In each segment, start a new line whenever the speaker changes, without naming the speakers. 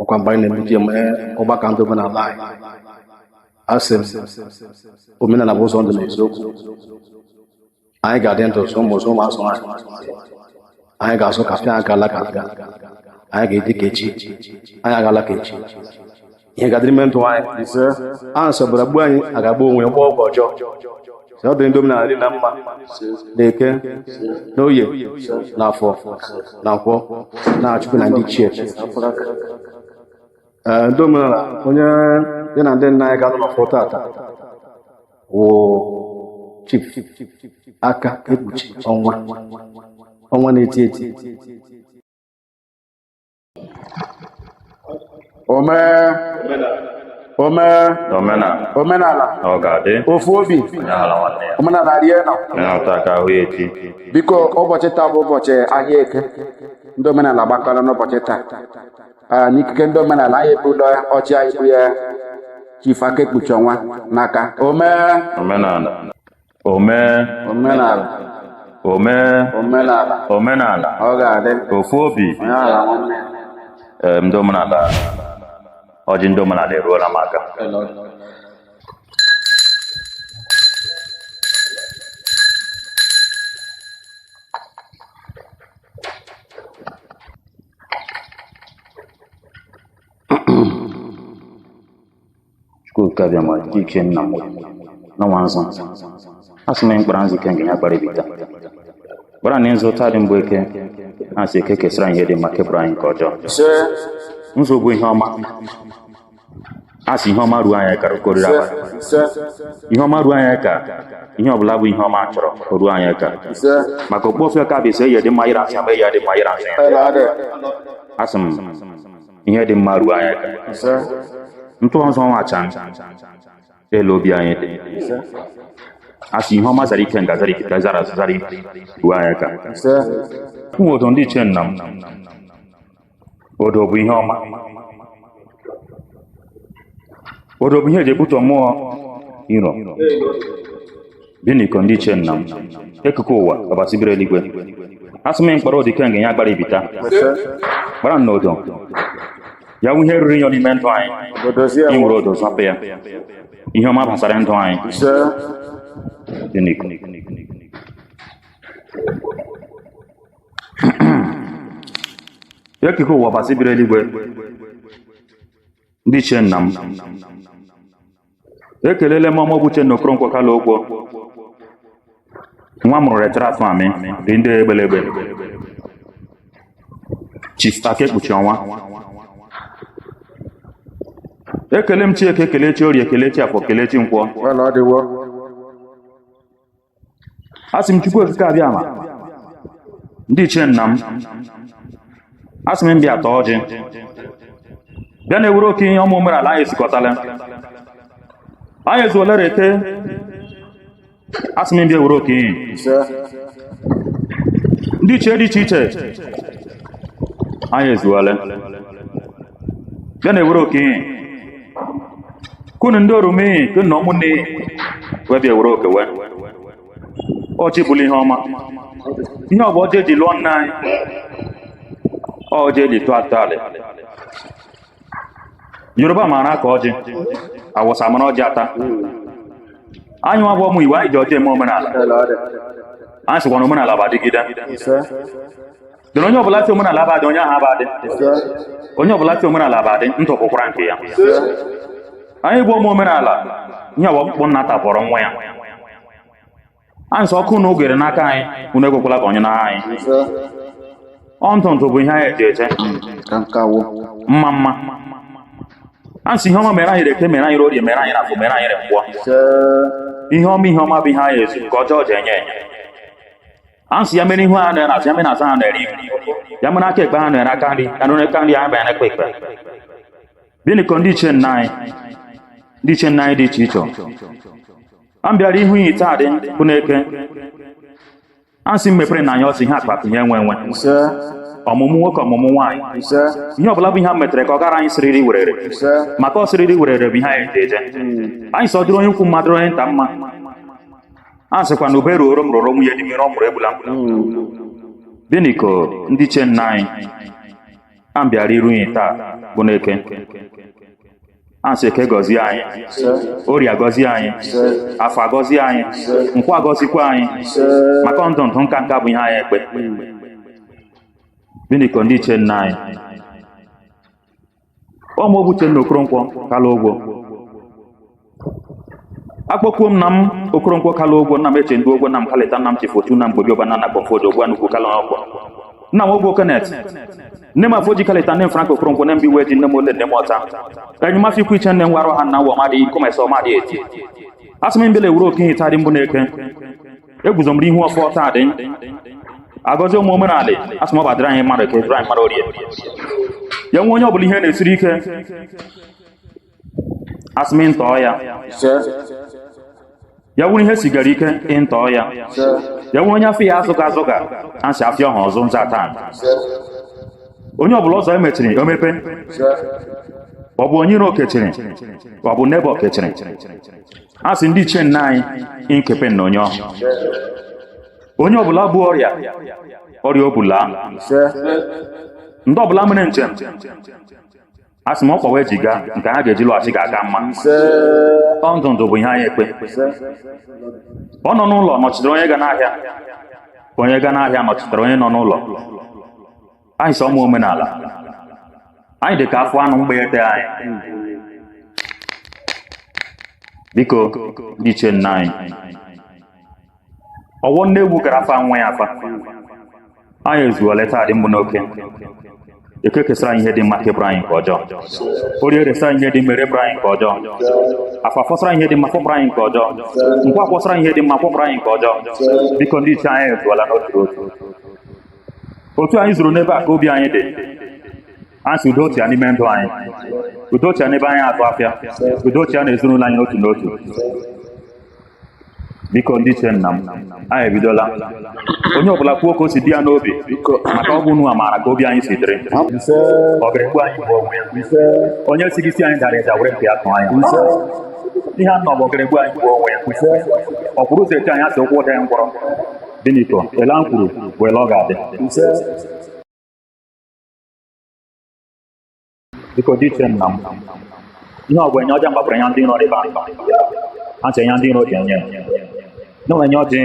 ọkwa mgbe anyị na-emedị eme ọgbakọ ndị omenala anyị asị m omenala bụ ụzọ ndụ na eziokwu anyị ga-adị ndụ zụọ ụmụ ụmụ azụọ anyị anyị ga-azu ka afịa anyị agala ka afịa anyị ga-adị ka echi anyị agala ka echi ihe ga-adịrị ime ndụ anyị ise a nsọbara gbuo anyị a ga-agba onwe ya gba ọgwụ ọjọọ sị, ọ dị ndị omenala dị na mma n'eke n'oye na afọ na nkwọ na chukwu na ndị ichie Ee, ndị omenala onye ya na ndị nna anyị ga-anọ n'ọfọ tata wụ chief aka ekpuchi ọnwa ọnwa na-eti eti ome ome omenala omenala ọ ga-adị ofu obi omenala nwanne ya omenala rie nọ ịnọta ka ahụ ya echi biko ụbọchị taa bụ ụbọchị ahịa eke ndị omenala gbakọrọ n'ụbọchị taa Ah, n'ikike ndị omenala anyị ebulu ọjị anyị bunye chief aka ekpuchi ọnwa n'aka ome omenala omee
omenala omee omenala omenala ọ ga-adị
ofu obi onye
aghala nwanne ya. ee ndị omenala ọjị ndị omenala eruola m aka Chukwu nke Abịama ndị ichie nna m na nwa nzu a sị m anyị kpara nzu ikenga ya kpara ibita kpara na nzu taa dị mgbe eke na-asị eke kesara anyị ihe dị mma kepụrụ anyị nke ọjọọ ise nzu bụ ihe ọma a sị ihe ọma ruo anyị aka o riri abalị ise ihe ọma ruo anyị aka ihe ọbụla bụ ihe ọma chọrọ o ruo anyị aka ise maka okpu ofe ka bụ ise ihe dị mma ịra asị ama ihe dị mma ịra asị ela adị asị m ihe dị mma ruo anyị aka otu nzu nwa acha elu obi anyị dị asị ihe ọma zara ikenga zara ike ka zara zara ike ruo anyị aka ụmụ odo ndị ichie nna m odo bụ ihe ọma odo bụ ihe eji ebute mmụọ iro Bini ko ndị ichie nna m eke ke ụwa ọbasi biri eluigwe asị m kpara odo ikenga ya kpara ibita kpara n'odo ya wụ ihe ruru inyi n'ime ndụ anyị Odozie i were odo zapụ ya ihe ọma gbasara ndụ anyị ise Bini ko. eke ke ụwa ọbasi biri eluigwe ndị ichie nna m ekelele m ọ mụ bụ Uchenna Okoronkwo Kalu Ogwo nwa mụrụ retara afọ amị dị ndị egbelegbe Chief Aka Ekpuchi Ọnwa ekele m chi Eke ekele chi Orie ekele chi Afọ ekele chi Nkwọ Well, ọ dịwo asị m chukwu okike abịama ndị ichie nna m asị m bịa taa ọjị bịa na-ewere oke ihe ụmụ omenala anyị ezukọtala anyị ezuola r'eke asị m bịa were oke ihe ndị ichie dị iche iche anyị ezuola bịa na-ewere oke ihe kunu ndị oru m iyi kunu na ụmụnne iyi wee bịa were oke wee ọjị bụrụ ihe ọma ihe ọ bụ ọjị eji lụọ nne anyị ọ ọjị eji tọọ atọalị yoruba maara akọ ọjị awụsa mara ọjị ata anyị nwa bụ ụmụ igbo anyị ji ọjị eme omenala anyị sịkwa na omenala bụ adịgide Ise. dị na onye ọbụla sị omenala abadị onye ahụ abadị onye ọbụla sị omenala abadị ndụ bụkwara nke ya anyị bụ ụmụ omenala ihe ọ bụ mkpụ nna tapọrọ nwa ya a nsị ọkụ na ogere n'aka anyị unu ekwekwala ka onye na anyị ọ ntụ ntụ bụ ihe anyị eji eche mma mma a nsị ihe ọma mere anyị r'eke mere anyị r'orie mere anyị r'afọ mere anyị re nkwọ ihe ọma ihe ọma bụ ihe anyị ezu nke ọjọọ ji enye enye a sị ya mere ihu ha nọ ya n'azụ ya mere azụ ha nọ ya n'ihu ya mere aka ekpe ha nọ ya n'aka nri ya nụrụ aka nri ya bịa n'ekpe ekpe biniko ndị ichie nna anyị ndị ichie nna anyị dị iche iche a bịara ihu iyi taa dị bụ n'eke a sị m mepere nụ anyị ụzọ ihe akụ akụ ihe enwe enwe ọmụmụ nwoke ọmụmụ nwaanyị ihe ọbụla bụ ihe a metere ka ọ gara anyị siriri werere maka ọ siriri werere bụ ihe anyị ji eje anyị sị ọ dịrị onye ukwu mma dịrị onye nta mma a sịkwa na ube ruoro m ruoro nwunye di m ire ọ mụrụ egbula mkpụrụ biniko ndị ichie nna anyị a m bịara iru unyi taa bụ n'eke asị eke gọzie anyị orie agọzie anyị afọ agọzie anyị nkwọ agọzikwa anyị maka ndụ ndụ nka nka bụ ihe anyị ekpe biniko ndị ichie nna anyị ọ mụ bụ uchenna okoronkwo kalu ogwo akpọkuo m nna m okoronkwo kalu ogwo nna m eche ndị ogwo nna m kalịta nna m chief otu na mgbobi ọba na nakpọ fod ogbu anukwu kalu ọkpọ nna m ogwo kenneth nne m afọ ji kalịta nne m frank okoronkwo na mbi wee ji nne m ole nne m ọta enyi m afọ ikwu iche nne m warụ ha nna nwa ọmadị ikomesa ọmadị eti asị m bịa ewuru oke ihe taa rị bụ n'eke eguzo m ihu ọfọ taa dị agọzi ụmụ omenala asị m ọ ga-adịrị anyị mma n'eke dịrị anyị mma n'orie ya nwee onye ọbụla ihe na-esiri ike asị m ntọọ ya ya wụrụ ihe sigara ike ịntọọ ya ya nwee onye afịa azụga azụga asị afịa ọha ọzọ nza taa onye ọbụla ụzọ ya mechiri o mepe ọ bụ onye iro kechiri ọ bụ n'ebe okechiri a sị ndị ichie nna anyị kepe na onye ahụ onye ọbụla bu ọrịa ọrịa ọbụla ndị ọbụla mere njem a sị m ọkpa ha ji gaa nke ha ga-eji lọghachi ga-aka mma ọ ndụ ndụ bụ ihe anyị ekpe ọ nọ n'ụlọ nọchitere onye ga n'ahịa onye ga n'ahịa nọchitere onye nọ n'ụlọ anyị sọ ụmụ omenala anyị dị ka afọ anụ mgbeyete anyị biko ndị ichie nna anyị ọ wụ nne ewu gara afa nwa ya afa anyị ezuole taa dị mbụ n'oke eke kesara anyị ihe dị mma kepụrụ anyị nke ọjọọ orie resara anyị ihe dị mma repụrụ anyị nke ọjọọ afọ fọsara anyị ihe dị mma fọpụrụ anyị nke ọjọọ nkwọ kwọsara anyị ihe dị mma kwọpụrụ anyị nke ọjọọ biko ndị ichie anyị ezuola n'otu otu otu anyị zuru n'ebe a ka obi anyị dị anyị sị udo chịa n'ime ndụ anyị udo chịa n'ebe anyị atụ afịa udo chịa na ezinụlọ anyị n'otu n'otu biko ndị ichie nna m anyị ebidola onye ọbụla kwuo ka o si dị ya n'obi maka ọ bụ unu amaara ka obi anyị si dịrị ọ ga-egbu anyị gbuo onwe ya onye si gị si anyị dara ịda were mpi atụ anyị ihe a nọ bụ ọ ga-egbu anyị gbuo onwe ya ọ kwụrụ ụzọ eche anyị asị ụkwụ daa ya ngwọrọ Biko, ele a kwuru bụ ele ọ ga-adị. Biko ndị ichie nna m. Ihe ọ bụ enye ọja mgbapụrụ ya ndị nọ ebe ahụ. Ha si enye ndị nọ dị enye. Na ọ enye ọjị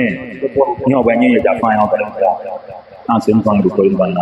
ihe ọ bụ enye ya ji afọ anyị ọbara. Ha si mba ndụ kọrọ mba nna.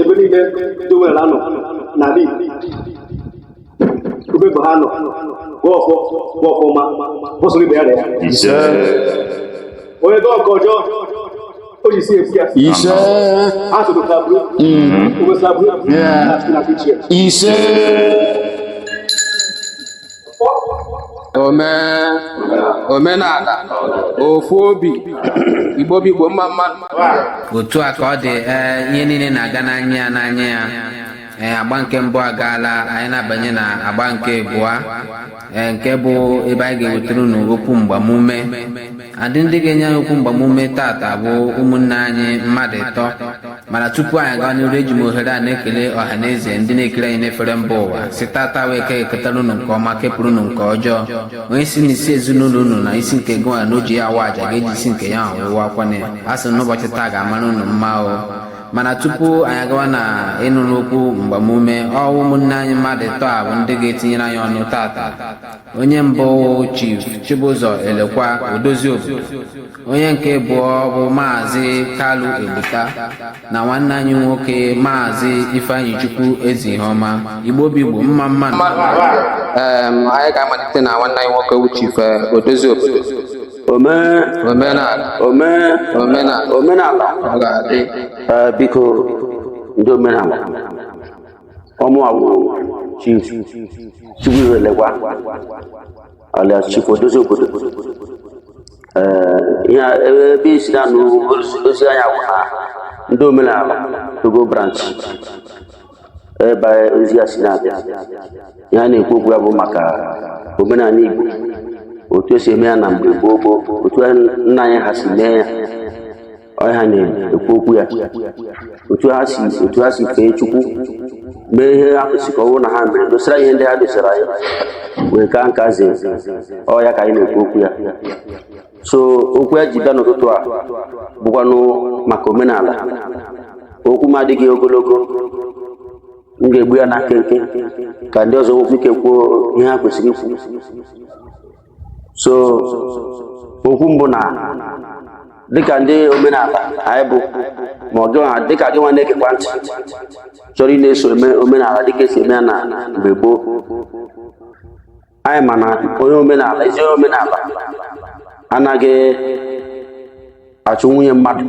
ebe niile dowere anọ n'ala Igbo ebe bụ ha nọ bụ ọfọ bụ ọfụma bụsụrụ ibe ya na ya ise onye dị ọka ọjọọ o ji si efu ya ise ha soro ka bụrụ obosabụ Yeah. na fichie ise ome omenala ofu obi igbo bụ igbo mma mma otu
a ka ọ dị ee ihe niile na-aga n'anya ya n'anya ya ee agba nke mbụ agaala anyị na-abanye na agba nke abụọ ee nke bụ ebe anyị ga-ewetara unu okwu mgbamume a ndị ndị ga-enye anyị okwu mgbamume tata bụ ụmụnne anyị mmadụ ịtọ mana tupu anyị agawa n'iru eji m ohere a na-ekele ọha na eze ndị na-ekiri anyị n'efere mba ụwa sị tata wụ eke ga-eketara unu nke ọma kepụrụ unu nke ọjọọ onye sị na isi ezinụlọ unu na isi nke gụnwa na o ji ya awa aja ga-eji isi nke ya ọwụwa akwana ya a sị n'ụbọchị taa ga-amara unu mma o mana tupu anyị agawa na ịnụrụ okwu mgbamume ọ wụ ụmụnne anyị mmadụ ịtọ a bụ ndị ga-etinyere anyị ọnụ tata onye mbụ chief chibụzọ elekwa odozi obodo onye nke abụọ bụ maazị kalu egbuta na nwanne anyị nwoke maazị ifeanyichukwu ezihoma igbo bụ igbo mma mma anyị ga-amalite na nwanne anyị nwoke chief eh, odozi obodo omenala omenala omenala ọ ga-adị eh, biko
ndị omenala ọ mụwa wụ chief chibụzọ elekwa alias chief odozi obodo ee ihe a- ebe ebe i si na-anụ ozi- ozi anyị a bụ na ndị omenala togo branch ebe ozi a si na-abịa ihe a na-ekwu okwu ya bụ maka omenala igbo otu esi eme ya na mgbe gboo gboo otu nna anyị ha si mee ya ọ ya ha na-ekwu okwu ya otu ha si otu ha si fee chukwu
mee ihe ha kwesịrị ka ọ bụrụ na ha mere dosara ihe ndị ha dosara anyị wee kaa nka zie ọ ya ka anyị na-ekwu okwu ya so okwu ya ji bịa n'ụtụtụ a bụkwanụ maka omenala okwu m adịghị ogologo m ga-egbu ya na nkenke ka ndị ọzọ nwekwa ike kwuo ihe ha kwesịrị ikwu so okwu m bụ na dịka ndị omenala anyị bụ ma ọ gị nwa dịka gị nwa na-egekwa ntị chọrọ ịna-eso eme omenala dịka esi eme ya na mgbe gboo anyị ma na onye omenala ezi onye omenala anaghị achụ nwunye mmadụ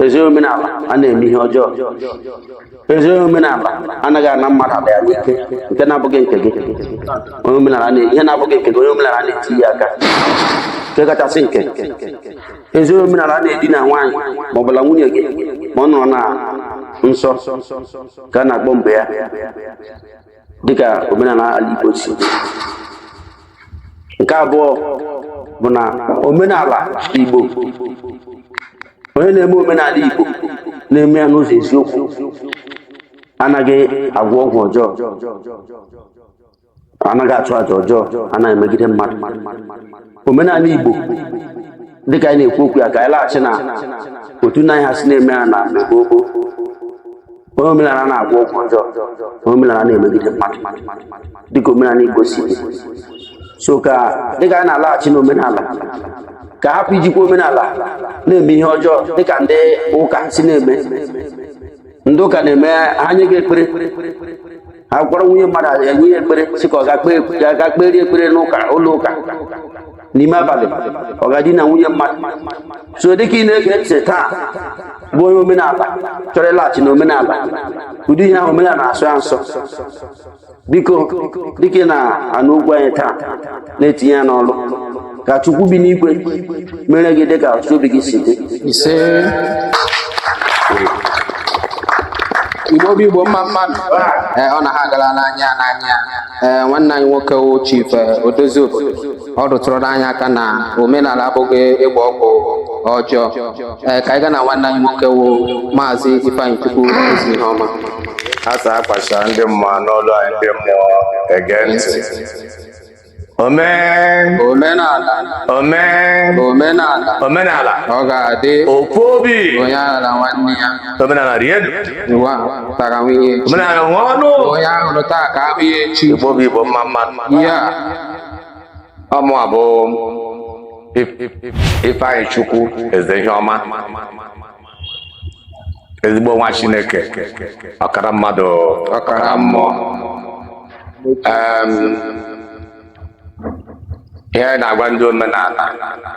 ezi onye omenala anaghị eme ihe ọjọọ ezi onye omenala anaghị ana mmadụ ala ya n'ike nke na-abụghị nke gị onye omenala na ihe na-abụghị nke gị onye omenala anaghị etinye aka nke kachasị nke ezi onye omenala anaghị edina nwaanyị ma ọ bụla nwunye gị ma ọ nọrọ na nsọ ka a na-akpọ mgbe ya dịka omenala ala Igbo si dị. nke abụọ bụ na omenala Igbo onye na-eme omenala Igbo na-eme ya n'ụzọ eziokwu anaghị agwọ ọgwụ ọjọọ anaghị achụ aja ọjọọ anaghị emegide mmadụ omenala Igbo dịka anyị na-ekwu okwu ya ka anyị laghachi na otu nna anyị ha si na-eme ya na mgbe gboo gboo onye omenala anaghị agwọ ọgwụ ọjọọ onye omenala anaghị emegide mmadụ dịka omenala Igbo si dị so ka dịka anyị na-alaghachi n'omenala ka a hapụ ijikwa omenala na-eme ihe ọjọọ dịka ndị ụka si na-eme ndị ụka na-eme ha nye gị ekpere ha kpọrọ nwunye mmadụ enye ya ekpere sị ka ọ ga kpeere ekpere n'ụka ụlọ ụka n'ime abalị ọ ga-edina nwunye mmadụ so dịka ị na-ege ntị taa bụ onye omenala chọrọ ịlaghachi na omenala ụdị ihe ahụ omenala na-asọ ya nsọ biko dịka ị na-anụ okwu anyị taa na-etinye ya n'ọrụ ka chukwu bi n'igwe mere gị dịka ọchịchọ obi gị si dị
ise igbo bụ igbo mma mma nụ ee ọ na ha agala n'anya n'anya ee nwanne anyị nwoke wụ chief odozi obodo ọ rụtụrụ anyị aka na omenala abụghị ịgba ọgwụ ọjọọ ee ka anyị gaa na nwanne anyị nwoke wụ maazị ifeanyị chukwu eze ihe ọma a sị
a kpacha ndị mmụọ n'ọlụ anyị ndị mmụọ ege ntị Amen. Omenala. Amen. Omenala. Omenala. Ọ
ga-adị. Ofu obi.
Onye aghala nwanne
ya. Omenala rie elu.
Ụwa
tara nwunye echi. Omenala nwa
ọnụ. Onye a hụrụ
taa ka a hụ ya echi. Igbo bụ Igbo mma
mma nụ. Iya. Ọ mụwa bụ Ifeanyị Chukwu eze ihe ọma. ezigbo nwa chineke ọkara mmadụ ọkara mmụọ Em, ihe anyị na-agwa ndị omenala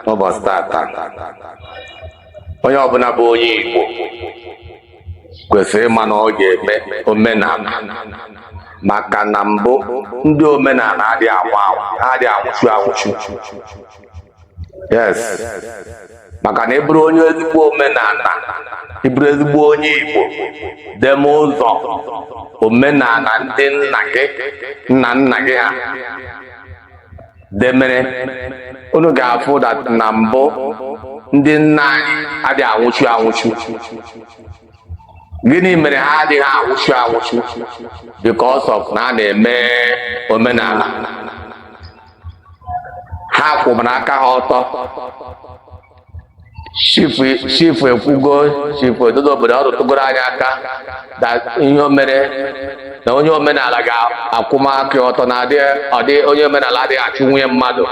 n'ụbọchị tata onye ọbụla bụ onye igbo kwesịrị ịma na ọ ga-eme omenala maka na mbụ ndị omenala adịghị anwụ anwụ ha adịghị anwụchu anwụchu yes maka na ị bụrụ onye ezigbo omenala ị bụrụ ezigbo onye igbo deme ụzọ omenala ndị nna gị nna nna gị ha demere unu ga-afụ that na mbụ ndị nna anyị adịghị anwụchu anwụchu gịnị mere ha adịghị anwụchu anwụchu because of na a na-eme omenala ha kwụbara aka ha ọtọ chief ekwugo chief odozi obodo ọ rụtụgoro anyị aka that ihe o mere na onye omenala ga-akwụma aka ọtọ na adị ọdị onye omenala adịghị achụ nwunye mmadụ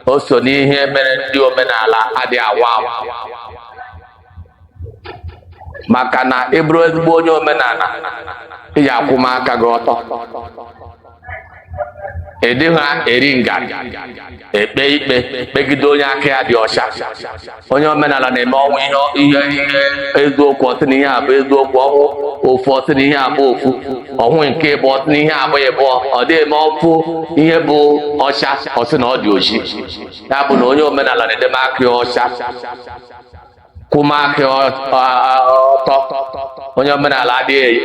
o so n'ihe mere ndị omenala adịghị anwụ anwụ maka na ị bụrụ ezigbo onye omenala ị ya-akwụma aka gị ọtọ ị dịghị ha eri ngarị ekpe ikpe kpegide onye aka ya dị ọcha onye omenala na-eme ọ hụ ihe eziokwu ọ sị na ihe a bụ eziokwu ọ hụ ofu ọ sị na ihe a bụ ofu ọ hụ nke ịbụọ ọ sị na ihe a bụ ịbụọ ọ dị eme ọ fụ ihe bụ ọcha ọ sị na ọ dị oji ya bụ na onye omenala na-edeme aka ya ọcha kwụma aka ọtọ onye omenala adịghị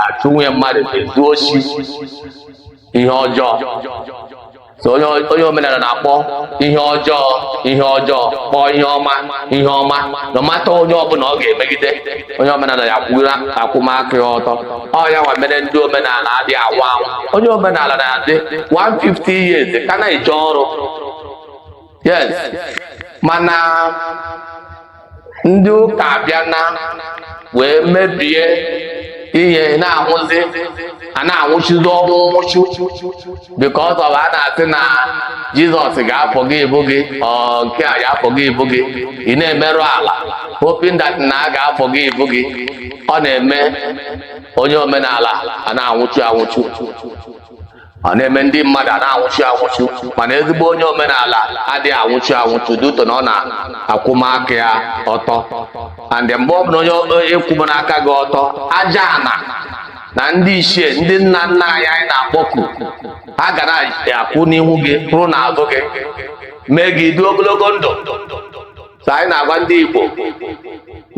achụ nwunye mmadụ ezu osi ihe ọjọọ so
onye omenala na-akpọ ihe ọjọọ ihe ọjọọ kpọọ ihe ọma ihe ọma no matter onye ọbụla ọ ga-emegide onye omenala ya-akwụma aka ya ọtọ ọ ya nwa mere ndị omenala adị anwụ anwụ onye omenala na-adị 150 years ka na-eje ọrụ yes mana ndị ụka abịana wee mebie ihe na-anwụzi a na-anwụchuzi ọnwụ nwụchu because of a na-asị na Jizọs ga-afọ gị ibu gị nke a ga-afọ gị ibu gị ị na-emerụ ala hoping that na a ga-afọ gị ibu gị ọ na-eme onye omenala a na-anwụchu anwụchu ọ na-eme ndị mmadụ a na-anwụchu anwụchu mana ezigbo onye omenala adịghị anwụchu anwụchu due to na ọ na-akwụma aka ya ọtọ and mgbe ọ bụla onye ị kwụmana aka gị ọtọ aja ana na ndị ichie ndị nna nna anyị anyị na-akpọku ha ga na-akwụ n'ihu gị kwụrụ n'azụ gị mee gị dị ogologo ndụ so anyị na-agwa ndị Igbo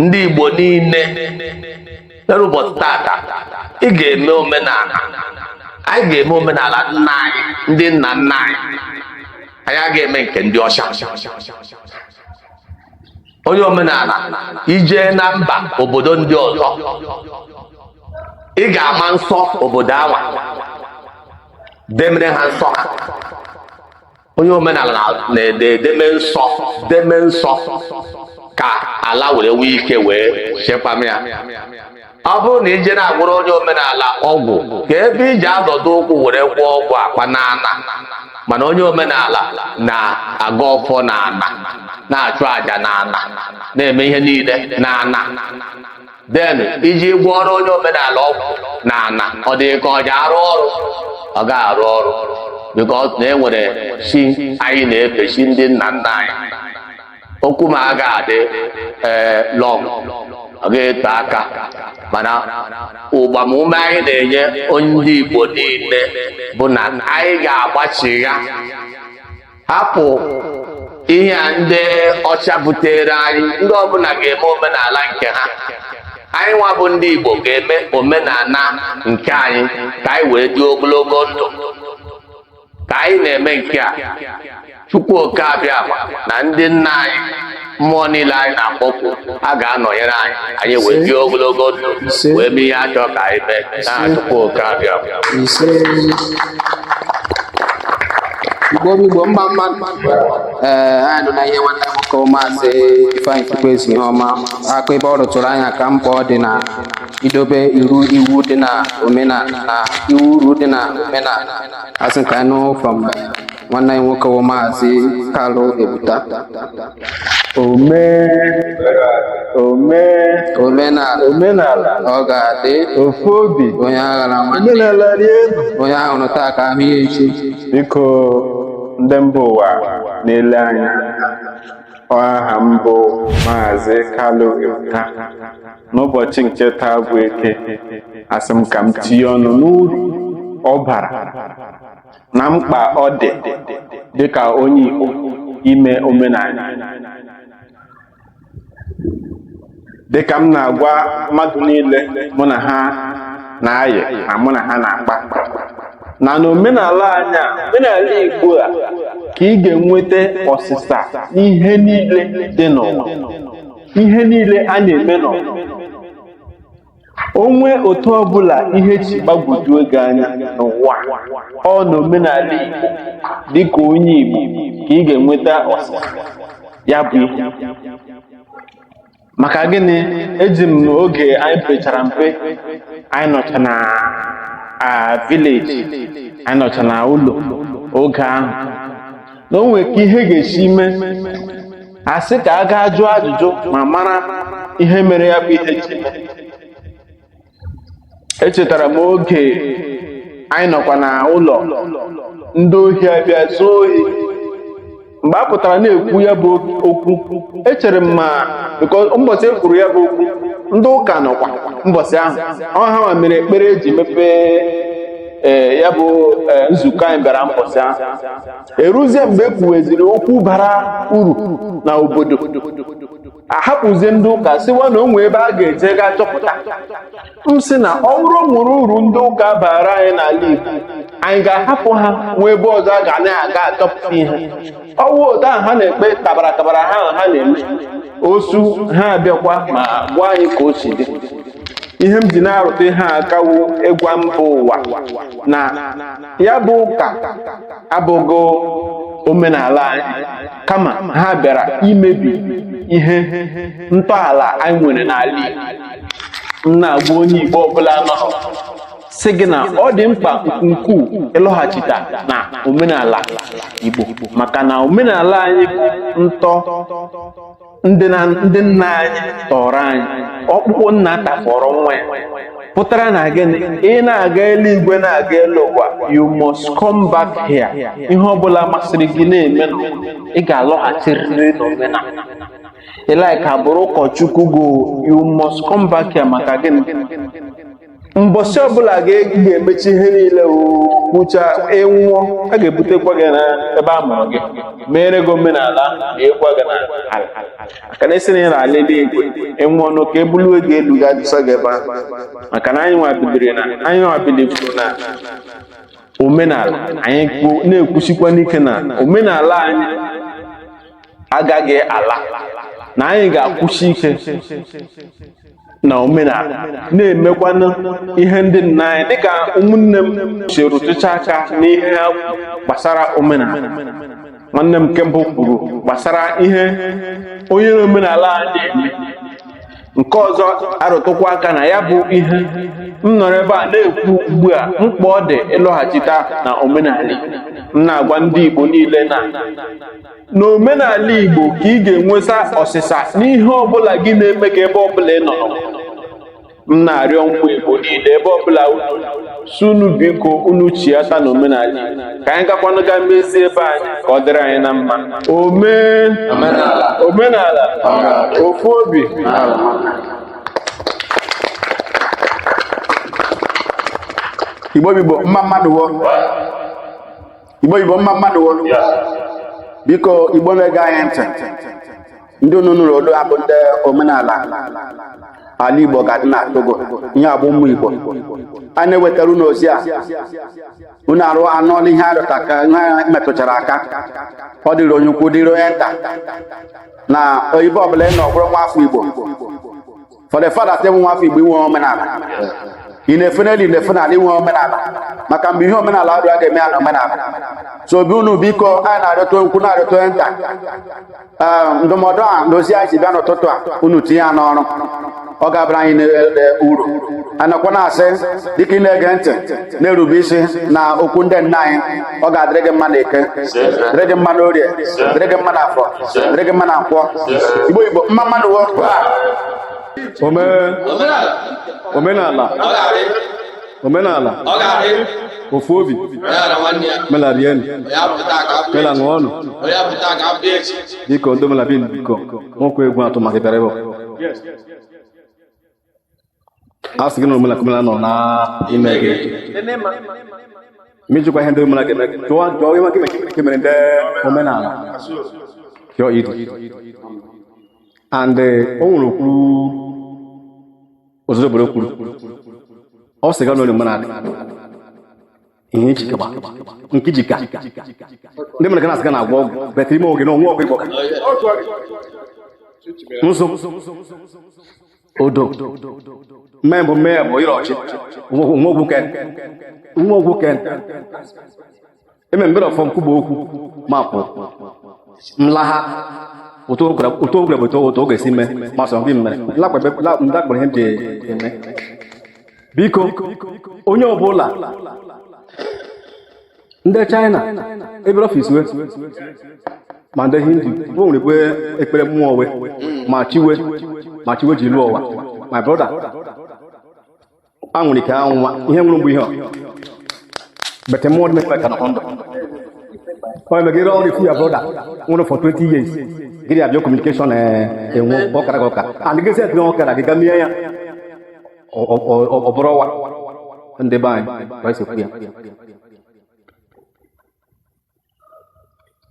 ndị Igbo niile n'ụbọchị tata ị ga-eme omenala anyị ga-eme omenala nna anyị ndị nna nna anyị anyị agaghị eme nke ndị ọcha onye omenala i jee na mba obodo ndị ọzọ ị ga-ama nsọ obodo anwa demere ha nsọ ha onye omenala na-ede edeme nsọ deme nsọ ka ala were nwee ike wee chekwama ya ọ bụrụ na i je na-agwọrọ onye omenala ọgwụ ka ebe i ji azọdo ụkwụ were gwọọ ọgwụ akpa n'ana mana onye omenala na-agọ ọfọ n'ana na-achụ àjà n'ana na-eme ihe niile n'ana then i ji gwọọrọ onye omenala ọgwụ n'ana ọ dị ka ọ ji arụ ọrụ ọ ga arụ ọrụ because na e nwere chi anyị na-efe chi ndị nna nna anyị okwu m a ga-adị ee eh, long ọ ga-eto aka mana ụgbamume anyị na-enye ndị Igbo niile bụ na anyị ga-agbachigha hapụ ihe a ndị ọcha butere anyị ndị ọbụla ga-eme omenala nke ha anyị nwa bụ ndị Igbo ga-eme omenala nke anyị ka anyị wee dị ogologo ndụ ka anyị na-eme nke a Chukwu Oke Abịama na ndị nna anyị mmụọ niile anyị na-akpọku a ga-anọnyere anyị anyị wee dị ogologo ndụ wee mee ihe a chọ ka anyị mee na Chukwu Oke Abịa
Igbo Igbo mma mma ee anyị nọ na ihe nwanne nwoke maazị Ifeanyị Chukwueze ihe ọma aka ebe ọ rụtụrụ anyị aka mkpa ọ dị na idobe iru iwu dị na omenala na iwu uru dị na omenala asị ka anyị nụ from nwanne anyị nwoke bụ maazị Kalu Ebuta omee omee omenala omenala ọ ga-adị ofu obi
onye aghana nwanne
omenala dị elu
onye a hụrụ taa ka
a hụ ya echi biko
ndị mba ụwa na-ele anya aha m bụ maazị Kalu Ebuta n'ụbọchị nke taa bụ Eke asị m ka m tinye ọnụ n'uru ọ bara na mkpa ọ dị dịka onye Igbo ime omenala dịka m na-agwa mmadụ niile mụ na ha na-ayị na mụ na ha na-akpa na n'omenala anyị a omenala Igbo a ka ị ga-enweta ọsịsa ihe niile dị n'ụwa ihe niile a na-eme n'ụwa o nwee otu ọbụla ihe si gbagwojuo gị anya n'ụwa ọ na omenala Igbo dịka onye Igbo ka ị ga-enweta ọsịsa ya bụ ihe maka gịnị eji m oge anyị pechara mpe anyị nọcha na village anyị nọcha na ụlọ oge ahụ na o nwere ka ihe ga-esi mee a sị ka a gaa jụọ ajụjụ ma mara ihe mere ya bụ ihe ji mee. echetara m oge anyị nọkwa na ụlọ ndị ohi abịa zuo ohi mgbe a pụtara na-ekwu ya bụ okwu echere m ma because mbọsị e kwuru ya bụ okwu ndị ụka nọkwa mbọsị ahụ ọ ha nwa mere ekpere eji mepee ee ya bụ ee, nzukọ anyị bịara mbọsị ahụ eruzie mgbe e kwuweziri okwu bara uru na obodo ahapụzie ndị ụka sịwa na o nwe ebe a ga-eje gaa chọpụta m sị na ọ bụrụ o nwere uru ndị ụka baara anyị n'ala Igbo anyị
ga-ahapụ ha nwee ebe ọzọ a ga na-aga achọpụta ihe ọ wụ otu ahụ ha na-ekpe tabara tabara ha ha na-eme osu ha abịakwa ma gwa anyị ka o si dị ihe m ji na-arụtụ ihe a aka wụ ịgwa mba ụwa na ya bụ ụka abụghị omenala anyị kama ha bịara imebi ihe ntọala anyị nwere n'ala Igbo m na-agwa onye Igbo ọbụla nọ sị gị na ọ dị mkpa nke ukwuu ịlọghachita na omenala Igbo maka na omenala anyị bụ ntọ ndị nna anyị tọrọ anyị ọkpụkpụ nna tafọrọ nwa ya pụtara na gịnị ị na-aga eluigwe na-aga elu ụwa you must come back here ihe ọbụla masịrị gị na-eme ị ga-alọghachirịrị n'omenala ị like bụrụ ụkọchukwu go you must come back here maka gịnị mbọsị ọbụla ị ga-emecha ihe niile kwucha ị nwụọ a ga-ebutekwa gị na ebe a mụrụ gị meere gị omenala likwaa gị na ala maka na a sị na ị na-ala eluigwe ị nwụọ nụ ka e bulu gị gaa elu ga adọsa gị ebe ahụ maka na anyị nwabidiri na anyị nwabidiri na omenala anyị na-ekwusikwanụ ike na omenala anyị agaghị ala na anyị ga-akwụsi ike na omenala na-emekwanụ ihe ndị nna anyị dịka ụmụnne m si rụtụcha aka n'ihe a gbasara omenala nwanne m nke mbụ kwuru gbasara ihe onye omenala a na-eme nke ọzọ arụtụkwa aka na ya bụ ihe m nọrọ ebe a na-ekwu ugbu a mkpa ọ dị ịlọghachita na omenala m na-agwa ndị Igbo niile na n'omenala Igbo ka ị ga-enweta ọsịsa n'ihe ọbụla gị na-eme ka ebe ọbụla ị nọ m na-arịọ ụmụ Igbo niile ebe ọbụla sị unu biko unu chiata na omenala ka anyị gakwanụ ga mezie ebe anyị ka ọ dịrị anyị na mma omenala ofu
obi Igbo Igbo mma mma nụ igbo igbo mma mma nụ wo biko igbo na-ege anyị ntị ndị unu nụrụ olu ha bụ ndị omenala ala igbo ga-adị na togo ihe a bụ ụmụ igbo a na-ewetara unu ozi a unu anụọla ihe ha rụtụ aka ha metụchara aka ọ dịrị onye ukwu dịrị onye nta na oyibo ọbụla ị nọ bụrụ nwa afọ igbo for the fact that ị bụ nwa afọ Igbo i nwe omenala ị na-efe n'elu ị na-efe n'ala i nwe omenala maka mgbe ihe omenala ọdụ a ga-eme ya na omenala so obi unu biko anyị na-arịọta onye ukwu na-arịọta onye nta ndụmọdụ a na ozi anyị ji bịa n'ụtụtụ a unu tinye ya n'ọrụ ọ ga-abara anyị niile uru a nakwa na-asị dịka ị na-ege ntị na-erube isi na okwu ndị nna anyị ọ ga-adịrị gị mma na eke dịrị gị mma na orie dịrị gị mma na afọ dịrị gị mma na nkwọ igbo igbo mma mma nụ o omenala omenala ofu obi mela rienu mela ṅụọnụ biko ndị omenala biko nwoke egwu atụ maka bịara ebe a sị gị na omenala omenala nọ n'ime gị mejikwa ihe ndị omenala ga-eme gị jụọ jụọ ihe maka ike mere ndị omenala jụọ idu and eh, o nwere okwu obodo kwuru ọ sị gị na onye omenala ihe ejike gba nke jika ndị mere ka na-asị ka na-agwọ ọgwụ but ime oge na o nwe ọgwụ ịgwọ nso odo mmee bụ mmee bụ ịrọ ọchị nwa ogwu ken nwa ogwu ken eme mbere ọfọ nkwuba okwu mapụ nlaha ụtọ ogwere bụ ụtọ ụtọ ọ ga-esi mee masọ gị mere lakpebe lakpebe ihe m ji eme biko onye ọbụla ndị China ebere ọfịs we ma ndị Hindu we nwere ebe ekpere mmụọ we ma chi we ma chi we ji lụọ ụwa my brother a nwere ike anwụwa ihe nwụrụ mgbe ihe ọ but mmụọ dị mekwe ka nọ ndụ ọ mege ire ọrụ ifu ya brother nwụrụ for 20 years gịrị abịa communication enwe ọkara ka ọka and gị set na ọkara gị ga mie ya ọ bụrụ ọwa ndị be anyị na-ekwu ya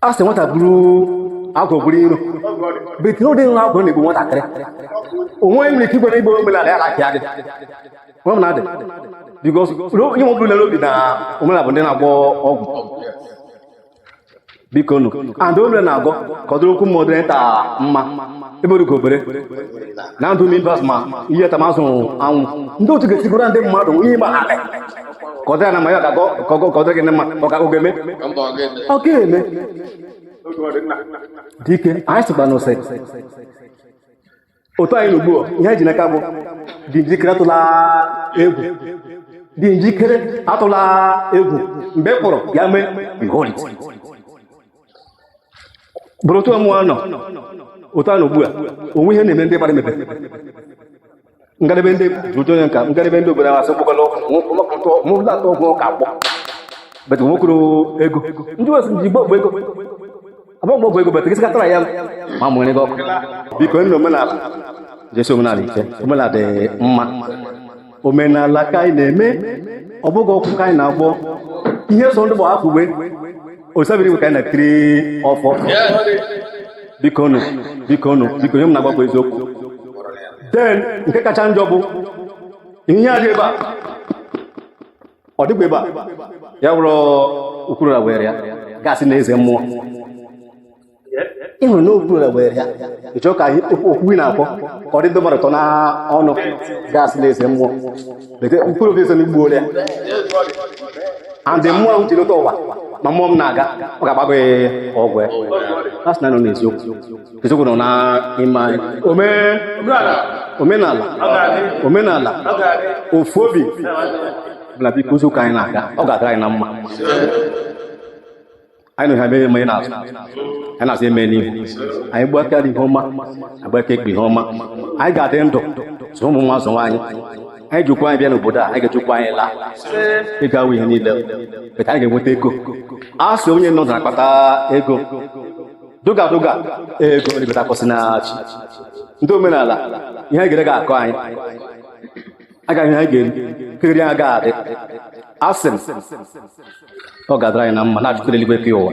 a sị nwata buru agwọ buru iro bekee ụdị nwa agwọ na-egbu nwatakịrị onwe nwere ike igwere igbo omenala ya na-apịa gị nwa m na-adị because ihe ọ bụla n'obi na omenala bụ ndị na-agwọ ọgwụ biko nụ and omenala na-agọ ka ọ dịrị ukwu mma dịrị nta mma ebere ka obere na ndụ members ma ihe tamazụ anwụ ndị otu ga-esigoro ndị mmadụ ihe ma alị ka ọ dịra na mma ya ga-agọ kọgọ ka ọ dịrị gị mma ọ ga-eme ọ ga-eme dịka anyị sịkwanụ ise otu anyị na ugbu a ihe anyị ji n'aka bụ dị njikere atụla egwu dị njikere atụla egwu mgbe ị kpọrọ ya mee behold it. bụrụ otu ọmụọ nọ otu a na ugbu a o nwe ihe na-eme ndị gbara emepe ngalebe ndị jụjụ onye nka ngalebe ndị obodo asị gbụgala mụla atọ ọgwụ ụka akpọ but nwokoro ego ndị wesị ji gbogbo ego abụọ mgbe ọgwụ ego bata gị sikatara ya ma mụ nwere gị ọkụ biko ndị omenala jisi omenala ike omenala dị mma omenala ka anyị na-eme ọ bụghị ọgwụ ka anyị na-agwọ ihe zọ ndụ bụ afọ uwe Olisa bi n'igwe ka anyị na-etiri ọfọ biko nụ biko nụ biko ihe m na-agwa bụ eziokwu then nke kacha njọ bụ ihe a dị ebe a ọ dịkwa ebe a ya wụrụ ukwuru na were ya gị asị na eze mmụọ ịhụrụ na okpuru na were ya ịchọ ka ihe- okwu okwu ị na-akpọ ka ọ dị ndị mmadụ ụtọ na ọnụ gị asị na eze mmụọ mkpụrụ obi eze m egbuola ya and the mmụọ ahụ ji lọta ụwa ma mmụọ m na-aga ọ ga-agbago ya ọgwụ ya a sị na nọ n'eziokwu eziokwu nọ n'ime omenala omenala ofu obi bụla biko ụzọ ka anyị na-aga ọ ga-adịrị anyị na mma anyị nọ n'ihu eme n'azụ anyị nọ n'azụ eme n'ihu anyị gba aka nri ihe ọma a gba aka ekpe ihe ọma anyị ga-adị ndụ zụ ụmụ ụmụ azụwa anyị anyị ji ụkwụ anyị bịa n'obodo a anyị ga-eji ụkwụ anyị laa ịgawa ihe niile beta anyị ga-enweta ego a sị onye nọ na-akpata ego dọga dọga ego ribata ka o si na chi ndị omenala ihe anyị ga-eri agaghị akọ anyị a ga-ahụ ihe anyị ga-eri nke ga-eri anyị agaghị adị asị m ọ ga-adịrị anyị na mma n'aha Chukwu kere eluigwe kee ụwa